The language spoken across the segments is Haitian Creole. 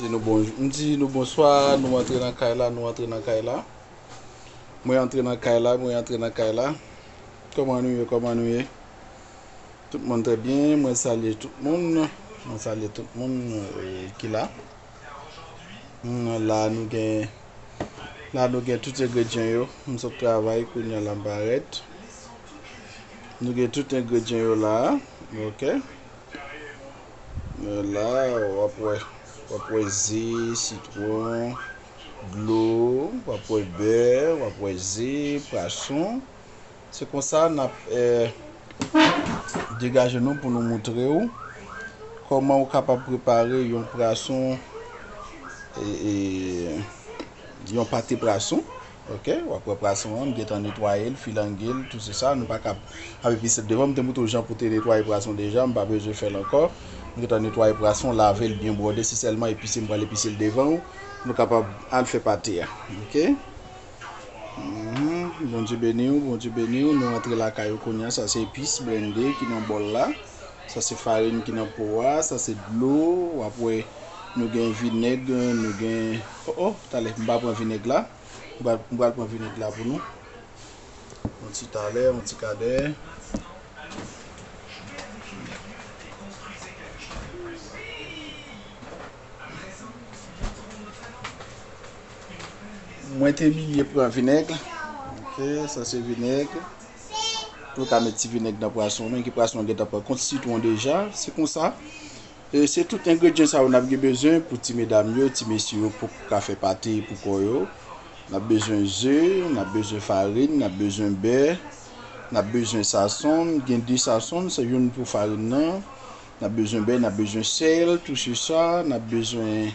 Di nou bonjou. M di nou bonswa, nou antre nan kay la, nou antre nan kay la. Mwen antre nan kay la, mwen antre nan kay la. Koman nou ye, koman nou ye? Tout moun trè byen, mwen salye tout moun. Mwen salye tout moun ki la. La nou gen, la nou gen tout engredyen yo. M sot travay kounye a la m parèt. Nou gen tout engredyen yo la a. Ok. Men la wap wè, wap wè ze, sitwon, dlo, wap wè bè, wap wè ze, pwason. Se konsa nap degaje nou pou nou moutre ou kòman ou kapab prepare yon pwason, yon pate pwason. Ok wap wè prason an m gentan netwayel filangel tou se sa nou pa kap ap epi se devan m te moutre w jan pou te netwaye prason deja m pa bezwen fèl ankò m gentan netwaye prason lavel byen bwode se sèlman epise m pral epise l devan w nou kapab al fè pate a ok humm Bondye beni w Bondye beni w nou antre lakay ou kounya sa se epis blende ki nan bòl la sa se farin ki nan po a sa se dlo wap wè nou gen vinèg nou gen Oh oh talè m pa pran vinèg la m pral pran vinèg la pou nou yon ti talè yon ti kadèmwen te bliye pran vinèg ok sa se vinèg nou ka met ti vinèg nan pwason men ki pwason gentan pran kont sitwon deja se konsa. Se tout engredyan sa yo nap gen bezwen pou ti medam yo, ti mesye yo pou ka fè pate pou kò yo. Nap bezwen ze, nap bezwen farin, nap bezwen bè, nap bezwen sasonn, gen 2 sasonn, se youn pou farin nan, nap bezwen bè, nap bezwen sèl, tou se sa, nap bezwen.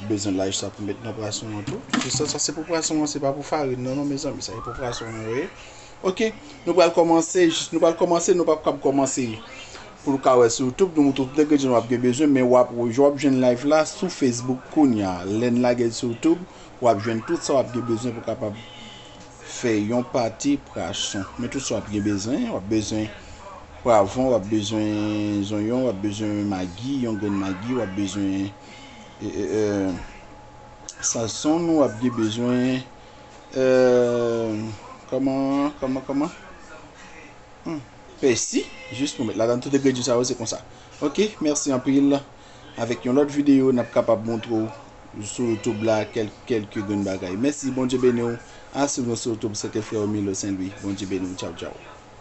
Ou bezwen laj sa pou met nan prason an tou. Jus sa, sa se pou prason an, se pa pou farin nan non mezanmi, sa e pou prason an wè. Ok, nou pral komanse, jis nou pral komanse, nou pap kap komanse. Pou l ka wè sou YouTube, nou tout nèg gen wap gen bezwen, men wap waj wap jwenn live la sou Facebook kounya. Lèn lagel sou YouTube, wap jwenn tout sa wap gen bezwen pou kapab fè yon pati prason. Men tout sa wap gen bezwen, wap bezwen pwavon, wap bezwen zonyon, wap bezwen magi, yon grenn magi, wap bezwen Samson wap gen bezwen Pèsi jis pou met ladan tout engredyan sa yo se konsa ok mèsi anpil avèk yon lòt videyo nap kapab montre ou sou YouTube la kelke grenn bagay mèsi Bondye beni ou a swiv nou sou YouTube se te frè ou Milo St. Louis Bondye beni ou tchaw tchaw.